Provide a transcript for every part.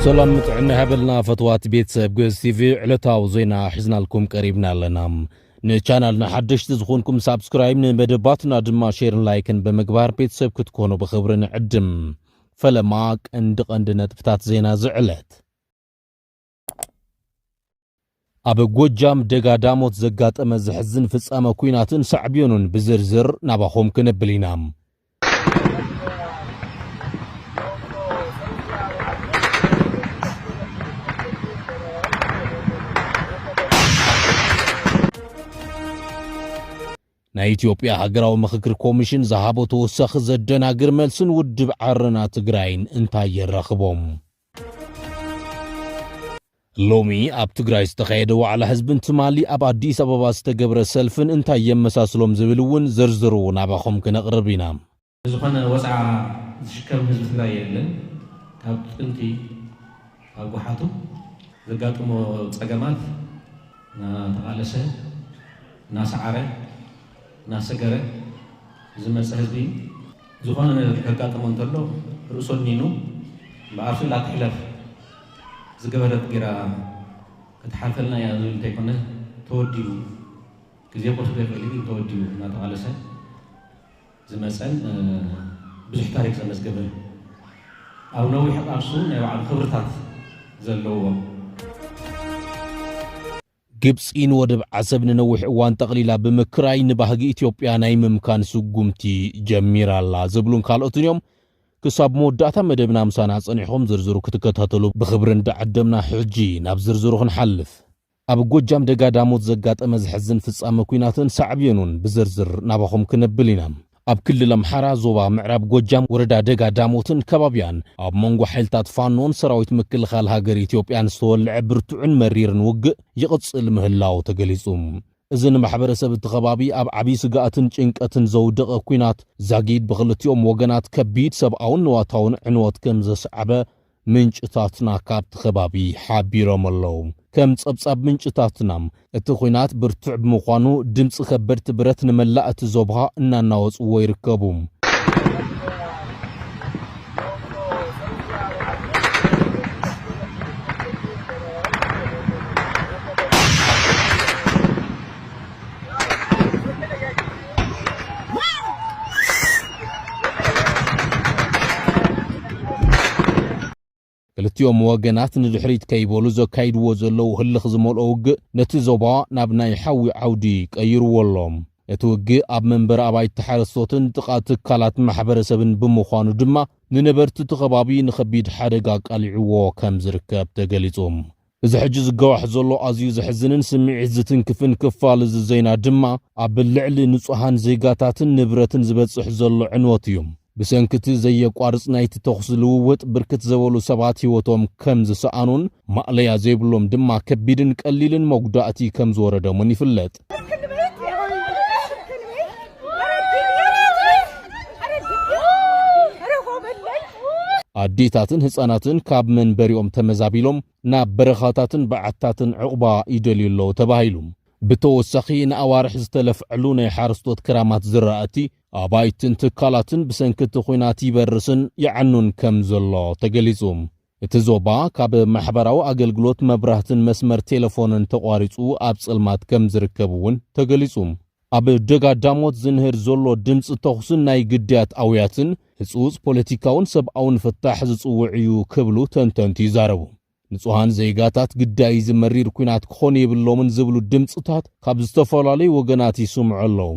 ሰላም ጥዕና ይሃበልና ፈትዋት ቤተሰብ ግእዝ ቲቪ ዕለታዊ ዜና ሒዝናልኩም ቀሪብና ኣለና ንቻናልና ሓደሽቲ ዝኾንኩም ሳብስክራይብ ንመደባትና ድማ ሼርን ላይክን ብምግባር ቤተሰብ ክትኮኑ ብኽብሪ ንዕድም ፈለማ ቀንዲ ቀንዲ ነጥብታት ዜና ዝዕለት ኣብ ጎጃም ደጋ ዳሞት ዘጋጠመ ዘሕዝን ፍጻመ ኲናትን ሳዕቤኑን ብዝርዝር ናባኹም ክነብል ኢና። ናይ ኢትዮጵያ ሃገራዊ ምኽክር ኮሚሽን ዝሃቦ ተወሳኺ ዘደናግር መልስን ውድብ ዓረና ትግራይን እንታይ የራኽቦም? ሎሚ ኣብ ትግራይ ዝተኻየደ ዋዕላ ህዝብን ትማሊ ኣብ ኣዲስ ኣበባ ዝተገብረ ሰልፍን እንታይ የመሳስሎም ዝብል እውን ዝርዝሩ ናባኹም ክነቕርብ ኢና። ዝኾነ ወጽዓ ዝሽከም ህዝቢ ትግራይ የለን። ካብ ጥንቲ ካብ ጓሓቱ ዘጋጥሞ ጸገማት እናተቓለሰ፣ እናሰዓረ፣ እናሰገረ ዝመጸ ህዝቢ እዩ። ዝኾነ ነገር ከጋጥሞ እንተሎ ርእሱ ኣድኒኑ እምበኣር ስእላ ትሕለፍ ዝገበረት ጌራ ክትሓልፈልና እያ ዝብል እንተይኮነ ተወዲቡ ግዜ ቁልፊ ገበሊ ግን ተወዲቡ እናተቓለሰ ዝመፀን ብዙሕ ታሪክ ዘመዝገበን ኣብ ነዊሕ ቃልሱ ናይ ባዕሉ ክብርታት ዘለዎ ግብጺ ንወደብ ዓሰብ ንነዊሕ እዋን ጠቕሊላ ብምክራይ ንባህጊ ኢትዮጵያ ናይ ምምካን ስጉምቲ ጀሚራ ኣላ ዝብሉን ካልኦትን እዮም። ክሳብ መወዳእታ መደብና ምሳና ጸኒሕኹም ዝርዝሩ ክትከታተሉ ብኽብሪ እንዳዓደምና ሕጂ ናብ ዝርዝሩ ክንሓልፍ። ኣብ ጎጃም ደጋ ዳሞት ዘጋጠመ ዘሕዝን ፍጻመ ኲናትን ሳዕቤኑን ብዝርዝር ናባኹም ክነብል ኢና። ኣብ ክልል ኣምሓራ ዞባ ምዕራብ ጎጃም ወረዳ ደጋ ዳሞትን ከባቢኣን ኣብ መንጎ ሓይልታት ፋኖን ሰራዊት ምክልኻል ሃገር ኢትዮጵያን ዝተወልዐ ብርቱዕን መሪርን ውግእ ይቕፅል ምህላው ተገሊፁ። እዚ ንማሕበረሰብ እቲ ከባቢ ኣብ ዓብዪ ስግኣትን ጭንቀትን ዘውደቐ ኲናት ዛጊድ ብኽልቲኦም ወገናት ከቢድ ሰብኣውን ንዋታውን ዕንወት ከምዘስዓበ ምንጭታትና ካብቲ ከባቢ ሓቢሮም ኣለው። ከም ጸብጻብ ምንጭታትና፣ እቲ ኹናት ብርቱዕ ብምዃኑ ድምጺ ከበድቲ ብረት ንመላእ እቲ ዞባ እናናወጽዎ ይርከቡ። ክልቲኦም ወገናት ንድሕሪት ከይበሉ ዘካይድዎ ዘለዉ ህልኽ ዝመልኦ ውግእ ነቲ ዞባ ናብ ናይ ሓዊ ዓውዲ ቀይርዎ ኣሎ እቲ ውግእ ኣብ መንበሪ ኣባይቲ ሓረስቶትን ጥቓ ትካላት ማሕበረሰብን ብምዃኑ ድማ ንነበርቲ እቲ ከባቢ ንኸቢድ ሓደጋ ኣቃሊዕዎ ከም ዝርከብ ተገሊጹ እዚ ሕጂ ዝጋዋሕ ዘሎ ኣዝዩ ዘሕዝንን ስምዒት ዝትንክፍን ክፋል እዚ ዜና ድማ ኣብ ልዕሊ ንጹሃን ዜጋታትን ንብረትን ዝበጽሕ ዘሎ ዕንወት እዩ። ብሰንኪ'ቲ ዘየቋርጽ ናይቲ ተዅሲ ልውውጥ ብርክት ዘበሉ ሰባት ህይወቶም ከም ዝሰኣኑን ማእለያ ዘይብሎም ድማ ከቢድን ቀሊልን መጉዳእቲ ከም ዝወረደሙን ይፍለጥ። ኣዴታትን ህፃናትን ካብ መንበሪኦም ተመዛቢሎም ናብ በረኻታትን በዓትታትን ዕቑባ ይደልዩ ኣለዉ ተባሂሉ ብተወሳኺ ንኣዋርሕ ዝተለፍዐሉ ናይ ሓረስቶት ክራማት ዝራእቲ ኣባይትን ትካላትን ብሰንኪ እቲ ኹናት ይበርስን ይዓኑን ከም ዘሎ ተገሊጹ እቲ ዞባ ካብ ማሕበራዊ ኣገልግሎት መብራህትን መስመር ቴለፎንን ተቋሪፁ ኣብ ፀልማት ከምዝርከብ እውን ተገሊፁ። ኣብ ደጋ ዳሞት ዝንህር ዘሎ ድምፂ ተኹስን ናይ ግዳያት ኣውያትን ህፁፅ ፖለቲካውን ሰብኣውን ፍታሕ ዝፅውዕ እዩ ክብሉ ተንተንቲ ይዛረቡ። ንፁሃን ዜጋታት ግዳይ እዚ መሪር ኲናት ክኾኑ የብሎምን ዝብሉ ድምፅታት ካብ ዝተፈላለዩ ወገናት ይስምዑ ኣለዉ።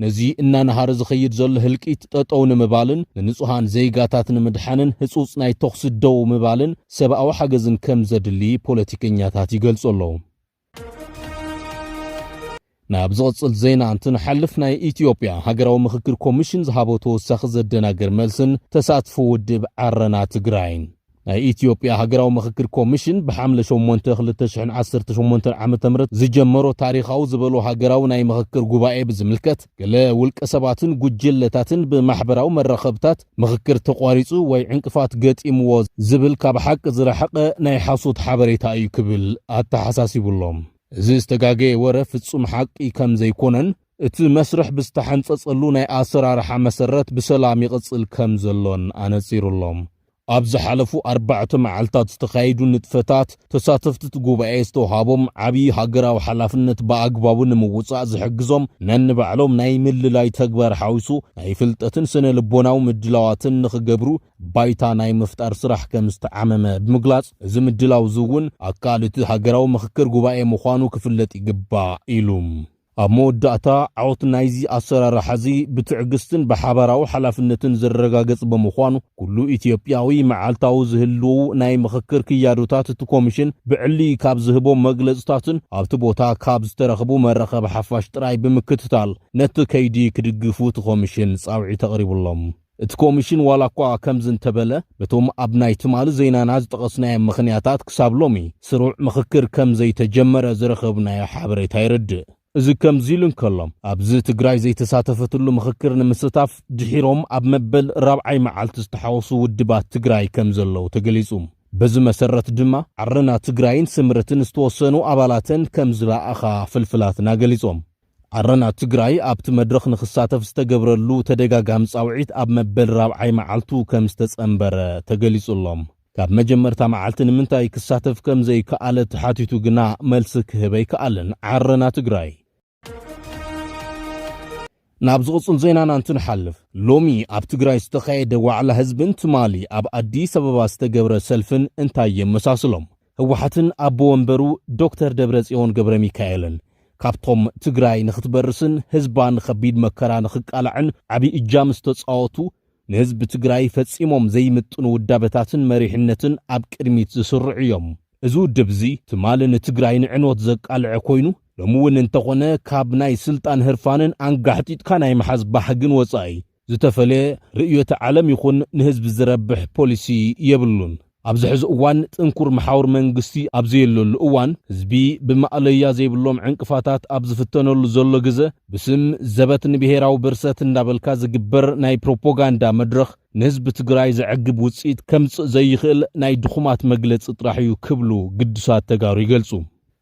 ነዚ እናነሃረ ዝኸይድ ዘሎ ህልቂት ጠጠው ንምባልን ንንፁሃን ዜጋታት ንምድሓንን ህፁፅ ናይ ተኹሲ ደው ምባልን ሰብኣዊ ሓገዝን ከምዘድሊ ፖለቲከኛታት ይገልፁ ኣለው። ናብ ዝቕፅል ዜና እንትንሓልፍ ናይ ኢትዮጵያ ሃገራዊ ምኽክር ኮሚሽን ዝሃቦ ተወሳኺ ዘደናግር መልስን ተሳትፎ ውድብ ዓረና ትግራይን ናይ ኢትዮጵያ ሃገራዊ ምኽክር ኮሚሽን ብሓምለ ሸሞንተ ክልተ ሽሕን ዓሰርተ ሸሞንተን ዓመተ ምህረት ዝጀመሮ ታሪኻዊ ዝበሎ ሃገራዊ ናይ ምኽክር ጉባኤ ብዝምልከት ገለ ውልቀ ሰባትን ጉጅለታትን ብማሕበራዊ መራኸብታት ምኽክር ተቋሪጹ ወይ ዕንቅፋት ገጢምዎ ዝብል ካብ ሓቂ ዝረሓቐ ናይ ሓሶት ሓበሬታ እዩ ክብል ኣተሓሳሲቡ ኣሎ። እዚ ዝተጋገየ ወረ ፍጹም ሓቂ ከም ዘይኮነን እቲ መስርሕ ብዝተሓንጸጸሉ ናይ ኣሰራርሓ መሰረት ብሰላም ይቕጽል ከም ዘሎን ኣነጺሩ ኣሎ። ኣብ ዝሓለፉ ኣርባዕተ መዓልታት ዝተኻየዱ ንጥፈታት፣ ተሳተፍቲ'ቲ ጉባኤ ዝተውሃቦም ዓብዪ ሃገራዊ ሓላፍነት ብኣግባቡ ንምውፃእ ዝሕግዞም ነንባዕሎም ናይ ምልላይ ተግባር ሓዊሱ ናይ ፍልጠትን ስነ ልቦናዊ ምድላዋትን ንኽገብሩ ባይታ ናይ ምፍጣር ስራሕ ከምዝተዓመመ ብምግላፅ፣ እዚ ምድላው'ዚ እውን ኣካል እቲ ሃገራዊ ምኽክር ጉባኤ ምዃኑ ክፍለጥ ይግባእ ኢሉ። ኣብ መወዳእታ፣ ዓወት ናይዚ ኣሰራርሓ'ዚ ብትዕግስትን ብሓባራዊ ሓላፍነትን ዝረጋገጽ ብምዃኑ፣ ኩሉ ኢትዮጵያዊ መዓልታዊ ዝህልዉ ናይ ምኽክር ክያዶታት እቲ ኮሚሽን ብዕሊ ካብ ዝህቦም መግለጽታትን ኣብቲ ቦታ ካብ ዝተረኽቡ መራኸቢ ሓፋሽ ጥራይ ብምክትታል ነቲ ከይዲ ክድግፉ እቲ ኮሚሽን ጻውዒት ኣቕሪቡ'ሎ። እቲ ኮሚሽን ዋላኳ ከምዚ እንተበለ በቶም ኣብ ናይ ትማሊ ዜናና ዝጠቐስናዮም ምኽንያታት ክሳብ ሎሚ ስሩዕ ምኽክር ከምዘይተጀመረ ዝረኸብናዮ ሓበሬታ የረድእ። እዚ ከምዚ ኢሉ እንከሎ ኣብዚ ትግራይ ዘይተሳተፈትሉ ምኽክር ንምስታፍ ድሒሮም ኣብ መበል ራብዓይ መዓልቲ ዝተሓወሱ ውድባት ትግራይ ከምዘለዉ ተገሊፁ። በዚ መሰረት ድማ ዓረና ትግራይን ስምረትን ዝተወሰኑ ኣባላተን ከምዝለኣኻ ፍልፍላትና ገሊፆም። ዓረና ትግራይ ኣብቲ መድረኽ ንኽሳተፍ ዝተገብረሉ ተደጋጋሚ ፃውዒት ኣብ መበል ራብዓይ መዓልቱ ከም ዝተፀንበረ ተገሊፁ'ሎ። ካብ መጀመርታ መዓልቲ ንምንታይ ክሳተፍ ከም ዘይከኣለ ተሓቲቱ ግና መልሲ ክህብ ኣይከኣለን ዓረና ትግራይ። ናብ ዝቕፅል ዜናና እንትንሓልፍ፣ ሎሚ ኣብ ትግራይ ዝተኻየደ ዋዕላ ህዝብን ትማሊ ኣብ ኣዲስ ኣበባ ዝተገብረ ሰልፍን እንታይ የመሳስሎም? ህወሓትን ኣቦ ወንበሩ ዶክተር ደብረፅዮን ገብረሚካኤልን ካብቶም ትግራይ ንኽትበርስን ህዝባ ንኸቢድ መከራ ንኽቃላዕን ዓብዪ እጃም ዝተፃወቱ ንህዝቢ ትግራይ ፈፂሞም ዘይምጥኑ ውዳበታትን መሪሕነትን ኣብ ቅድሚት ዝስርዑ እዮም። እዚ ውድብ እዚ ትማሊ ንትግራይ ንዕንወት ዘቃልዐ ኮይኑ ሎሚ እውን እንተኾነ ካብ ናይ ስልጣን ህርፋንን ኣንጋሕጢጥካ ናይ ምሓዝ ባህግን ወፃኢ ዝተፈልየ ርእዮተ ዓለም ይኹን ንህዝቢ ዝረብሕ ፖሊሲ የብሉን። ኣብዚ ሕዚ እዋን ጥንኩር መሓውር መንግስቲ ኣብ ዘየለሉ እዋን፣ ህዝቢ ብማእለያ ዘይብሎም ዕንቅፋታት ኣብ ዝፍተነሉ ዘሎ ግዘ፣ ብስም ዘበት ንብሄራዊ ብርሰት እንዳበልካ ዝግበር ናይ ፕሮፖጋንዳ መድረኽ ንህዝቢ ትግራይ ዘዕግብ ውፅኢት ከምፅእ ዘይኽእል ናይ ድኹማት መግለፂ ጥራሕ እዩ ክብሉ ግዱሳት ተጋሩ ይገልፁ።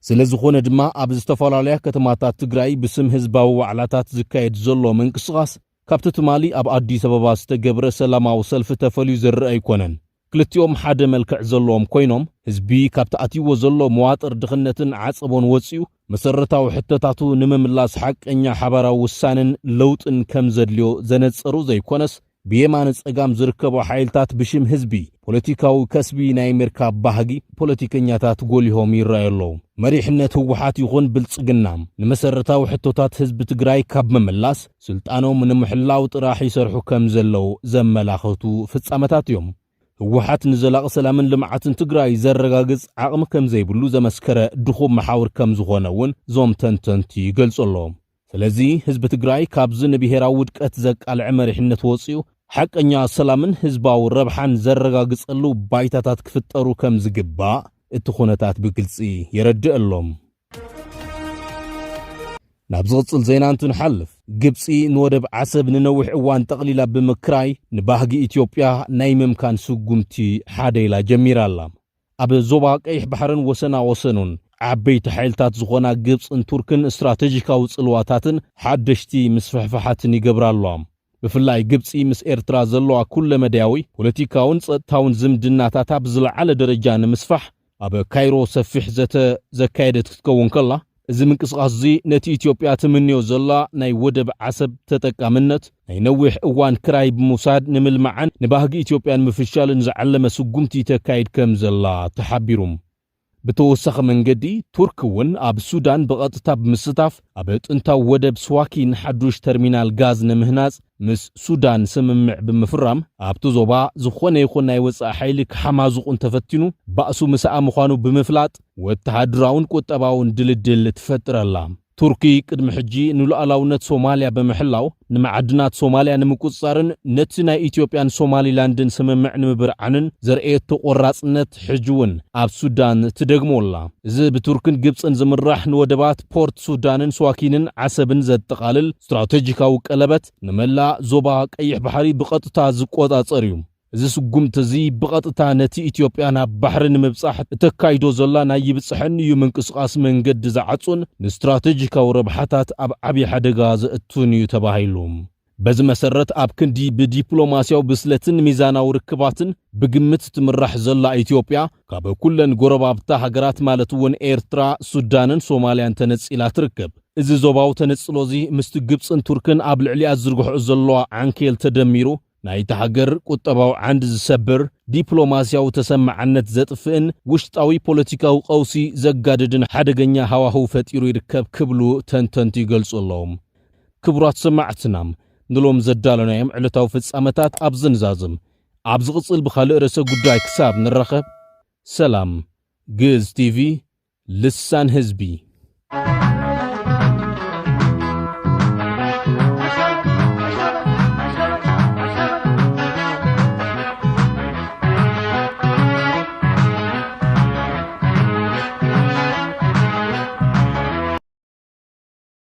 ስለዝኾነ ድማ ኣብ ዝተፈላለያ ከተማታት ትግራይ ብስም ህዝባዊ ዋዕላታት ዝካየድ ዘሎ ምንቅስቓስ ካብቲ ትማሊ ኣብ ኣዲስ ኣበባ ዝተገብረ ሰላማዊ ሰልፊ ተፈልዩ ዝርኣ ኣይኮነን። ክልቲኦም ሓደ መልክዕ ዘለዎም ኮይኖም ህዝቢ ካብቲ ኣትይዎ ዘሎ መዋጥር ድኽነትን ዓፀቦን ወፂኡ መሰረታዊ ሕቶታቱ ንምምላስ ሓቀኛ ሓባራዊ ውሳነን ለውጥን ከምዘድልዮ ዘነፀሩ ዘይኮነስ ብየማነ ጸጋም ዝርከቡ ሓይልታት ብሽም ህዝቢ ፖለቲካዊ ከስቢ ናይ ምርካብ ባህጊ ፖለቲከኛታት ጎሊሆም ይረኣዩ ኣለዉ። መሪሕነት ህወሓት ይኹን ብልጽግና ንመሰረታዊ ሕቶታት ህዝቢ ትግራይ ካብ ምምላስ ስልጣኖም ንምሕላው ጥራሕ ይሰርሑ ከም ዘለዉ ዘመላኽቱ ፍጻመታት እዮም። ህወሓት ንዘላቒ ሰላምን ልምዓትን ትግራይ ዘረጋግጽ ዓቕሚ ከም ዘይብሉ ዘመስከረ ድኹም መሓውር ከም ዝኾነ እውን እዞም ተንተንቲ ይገልጹ ኣለዉ። ስለዚ ህዝቢ ትግራይ ካብዚ ንብሄራዊ ውድቀት ዘቃልዐ መሪሕነት ወፂኡ ሓቀኛ ሰላምን ህዝባዊ ረብሓን ዘረጋግፀሉ ባይታታት ክፍጠሩ ከምዝግባእ እቲ ኩነታት ብግልፂ የረድእ ኣሎ። ናብ ዝቕፅል ዜና እንትንሓልፍ፣ ግብፂ ንወደብ ዓሰብ ንነዊሕ እዋን ጠቕሊላ ብምክራይ ንባህጊ ኢትዮጵያ ናይ ምምካን ስጉምቲ ሓደ ኢላ ጀሚራ ኣላ። ኣብ ዞባ ቀይሕ ባሕርን ወሰና ወሰኑን ዓበይቲ ሓይልታት ዝኾና ግብጽን ቱርክን ስትራተጂካዊ ጽልዋታትን ሓደሽቲ ምስፍሕፋሓትን ይገብራ ኣለዋ። ብፍላይ ግብጺ ምስ ኤርትራ ዘለዋ ኩለመዳያዊ ፖለቲካውን ጸጥታውን ዝምድናታታ ብዝለዓለ ደረጃ ንምስፋሕ ኣብ ካይሮ ሰፊሕ ዘተ ዘካየደት ክትከውን ከላ፣ እዚ ምንቅስቓስ'ዚ ነቲ ኢትዮጵያ ትምንዮ ዘላ ናይ ወደብ ዓሰብ ተጠቃምነት ናይ ነዊሕ እዋን ክራይ ብምውሳድ ንምልማዕን ንባህጊ ኢትዮጵያ ንምፍሻልን ዝዓለመ ስጉምቲ ተካይድ ከምዘላ ተሓቢሩ። ብተወሳኺ መንገዲ ቱርኪ እውን ኣብ ሱዳን ብቐጥታ ብምስታፍ ኣብ ጥንታዊ ወደብ ስዋኪን ሓዱሽ ተርሚናል ጋዝ ንምህናጽ ምስ ሱዳን ስምምዕ ብምፍራም ኣብቲ ዞባ ዝኾነ ይኹን ናይ ወጻኢ ሓይሊ ክሓማዙቑ እንተፈቲኑ ባእሱ ምሳኣ ምዃኑ ብምፍላጥ ወተሃደራውን ቁጠባውን ድልድል ትፈጥር ኣላ። ቱርኪ ቅድሚ ሕጂ ንሉኣላውነት ሶማልያ ብምሕላው ንመዓድናት ሶማልያ ንምቁጽጻርን ነቲ ናይ ኢትዮጵያን ሶማሊላንድን ስምምዕ ንምብርዓንን ዘርእየቶ ቆራጽነት ሕጂ'ውን ኣብ ሱዳን ትደግሞ ኣላ። እዚ ብቱርክን ግብጽን ዝምራሕ ንወደባት ፖርት ሱዳንን ስዋኪንን ዓሰብን ዘጠቓልል ስትራተጂካዊ ቀለበት ንመላእ ዞባ ቀይሕ ባሕሪ ብቐጥታ ዝቆጻጸር እዩ። እዚ ስጉምቲ እዚ ብቐጥታ ነቲ ኢትዮጵያ ናብ ባሕሪ ንምብጻሕ እተካይዶ ዘላ ናይ ይብጽሐኒ'ዩ ምንቅስቓስ መንገዲ ዝዓጹን ንስትራተጂካዊ ረብሓታት ኣብ ዓቢ ሓደጋ ዘእቱን እዩ ተባሂሉ። በዚ መሰረት ኣብ ክንዲ ብዲፕሎማሲያዊ ብስለትን ሚዛናዊ ርክባትን ብግምት ትምራሕ ዘላ ኢትዮጵያ ካብ ኩለን ጎረባብታ ሃገራት ማለት እውን ኤርትራ፣ ሱዳንን ሶማልያን ተነጺላ ትርከብ። እዚ ዞባዊ ተነጽሎ'ዚ ምስቲ ግብጽን ቱርክን ኣብ ልዕሊኣ ዝዝርግሕኦ ዘለዋ ዓንኬል ተደሚሩ ናይታ ሃገር ቁጠባዊ ዓንዲ ዝሰብር፣ ዲፕሎማሲያዊ ተሰማዕነት ዘጥፍእን ውሽጣዊ ፖለቲካዊ ቀውሲ ዘጋድድን ሓደገኛ ሃዋህው ፈጢሩ ይርከብ ክብሉ ተንተንቲ ይገልጹ ኣለዉ። ክቡራት ሰማዕትና ንሎሚ ዘዳሎናዮም ዕለታዊ ፍጻመታት ኣብዚ ንዛዝም። ኣብ ዝቕጽል ብኻልእ ርእሰ ጉዳይ ክሳብ ንራኸብ ሰላም። ግእዝ ቲቪ ልሳን ህዝቢ።